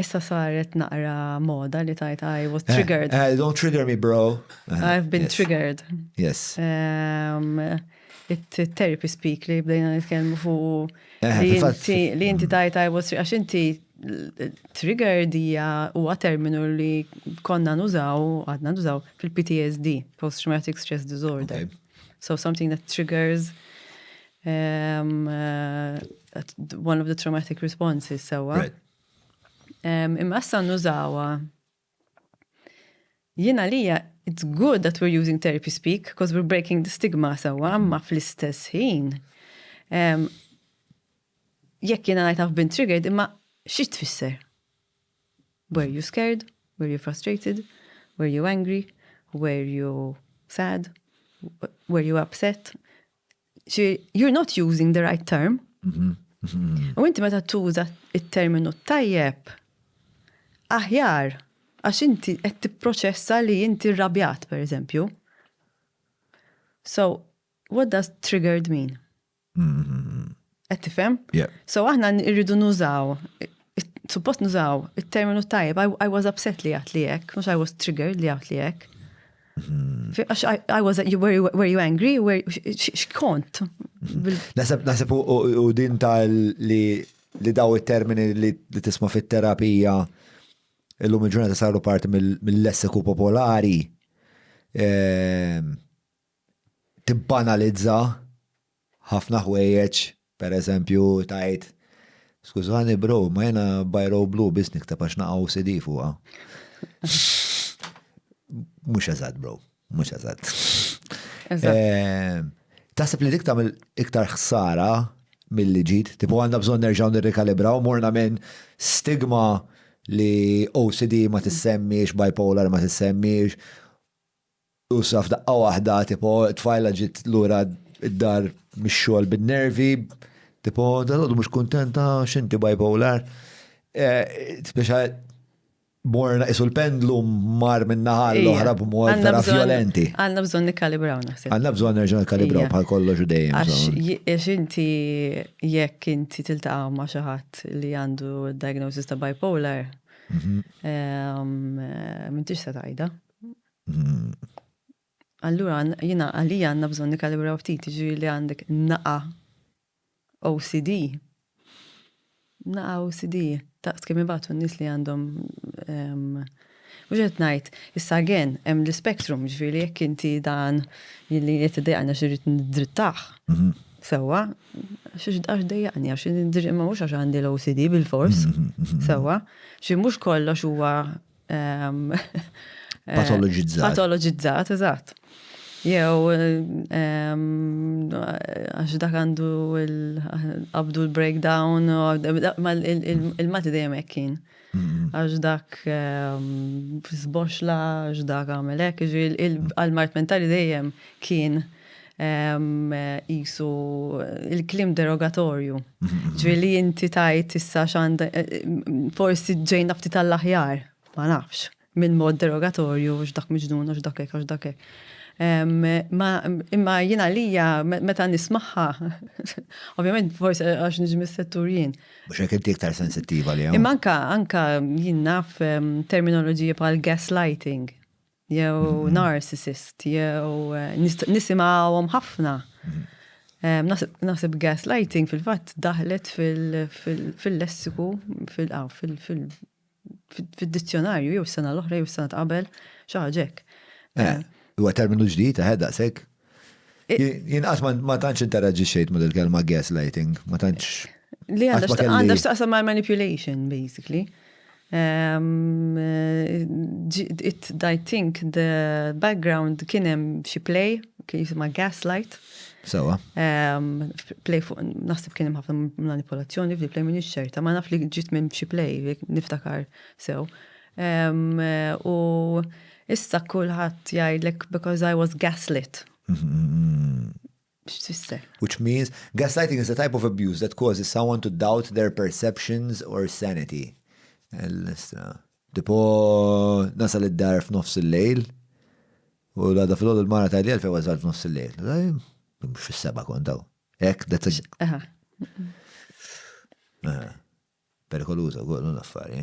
Issa saret naqra moda li tajt I was eh, triggered. Uh, don't trigger me, bro. Uh, I've been yes. triggered. Yes. Um, it-therapy speak li bdejna nitkellmu fuq eh, li inti mm. tajt I was għax inti trigger dija huwa terminu li konna nużaw, għadna nużaw fil-PTSD, Post Traumatic Stress Disorder. Okay. So something that triggers um, uh, one of the traumatic responses, sewa. So, right. Imma issa nużawha. Jiena lija, it's good that we're using therapy speak, because we're breaking the stigma sewwa, imma fl-istess ħin. Jekk jiena ngħid I've been triggered, imma xi tfisser? Were you scared? Were you frustrated? Were you angry? Were you sad? Were you upset? You're not using the right term. U inti meta tuża il-terminu tajjeb, aħjar, għax inti qed tipproċessa li inti rrabjat, per eżempju. So, what does triggered mean? Qed tifhem? Yeah. So aħna irridu nużaw, suppost nużaw it-terminu tajjeb, I, I was upset li għat li jek, mux I was triggered li għat li jek. Hmm. Għax I was, you, were, you, were you angry? Were, xkont? Hmm. Nasab, nasab u din tal li li daw il-termini li tisma fit-terapija illum il-ġurnata saru parti mill-lessiku popolari. Ehm, tibbanalizza ħafna ħwejjeġ, pereżempju tgħid skużani bro, ma jiena biro blu biss nikteb għax naqa' OCD fuqha. Mhux eżatt bro, mhux eżatt. Eh, taħseb li dik tagħmel iktar ħsara mill-li ġid, tipo għandna bżonn nerġgħu nirrikalibraw morna minn stigma li OCD ma tissemmiex, bipolar ma tissemmiex, Flusa f'daqqa waħda, tipo tfajla ġiet lura d-dar mix-xogħol bin-nervi, tipo dalgħodu mhux kuntenta għax inti bipolar. Speċa morna qisu l-pendlu mar minn naħa l-oħra b'mod vera vjolenti. Għandna bżonn nikkalibraw naħseb. Għandna bżonn nerġa' nikkalibraw bħal kollox u dejjem. Għax inti jekk inti tiltaqa' ma' xi ħadd li għandu diagnosis ta' bipolar, m'intix se tgħidha. Allura jiena għalija għandna bżonn nikalibraw ftit ġiri li għandek naqa OCD. Naqa OCD, taqt kemm ibatu n-nies li għandhom Uġet najt, issa gen, hemm l-spektrum, ġviri, jekk inti dan jilli jiet dejqna xirrit n-drittax. Mhm. Sewa, xiex dax dejqni, għax n-drittax ma mux għax għandi l-OCD bil-fors. Mhm, mhm, sewa, xie mux kollox huwa ehm, eh, patologizzat. Patologizzat, eżatt. Jew ehm, għax dak għandu l-abdu l-breakdown, il-mati dejjem ekkin. Għax dak ehm, sboxla, għax dak għamelek, għal-mart mentali dejjem kien jisu il-klim derogatorju. Ġviri li inti tajt issa xand forsi ġejna ftit tal-aħjar, ma nafx, minn mod derogatorju, x'dak miġnun, x'dak ek, x'dak ek. Imma jina lija, meta nismaħħa, ovvijament forsi għax nġmi settur jien. Mux ek inti iktar sensittiva li Imma anka, anka jien naf terminoloġija pal gaslighting. jew narcissist, jew nisimgħuhom ħafna. Naħseb gaslighting fil-fatt daħlet fil-lessiku, fil-dizzjonarju, jew sena l-oħra, jew sena qabel, xaħġek. Huwa terminu ġdid, eħe, daqsek? Jien qatt ma tantx interaġi xejt ma dil-kelma gaslighting, ma tantx. Li għandha x'taqsam ma' manipulation, basically. Um, it, I think the background kien hemm xi play, kien jisimha gaslight. Sewa. Um, play fuq, naħseb kien hemm ħafna manipolazzjoni fil play minn ix-xerta, ma naf li ġiet minn xi play, niftakar sew. U issa kulħadd jgħidlek because I was gaslit. X'tfisser? Which means gaslighting is a type of abuse that causes someone to doubt their perceptions or sanity. Tipo nasal id-dar f'nofs il-lejl u l-għada fil-għodu l-mara tajli għalfej għazal f'nofs il-lejl. Mux fil-seba kontaw. Ek, that's a... Perikoluza, għol, l-affari.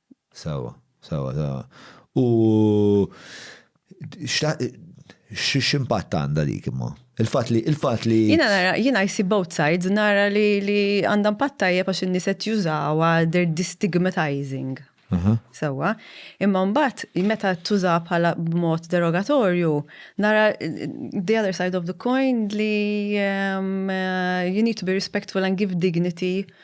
Sewwa, sewwa, sewwa. U x'impatt għandha dik imma? Il-fatt li il-fatt li. Jiena nara, jiena jsib both sides, nara li għandha impatt tajjeb għax in-nies qed jużawha they are destigmatizing. Sewwa. Imma mbagħad meta tuża bħala b'mod derogatorju, nara the other side of the coin li you need to be respectful and give dignity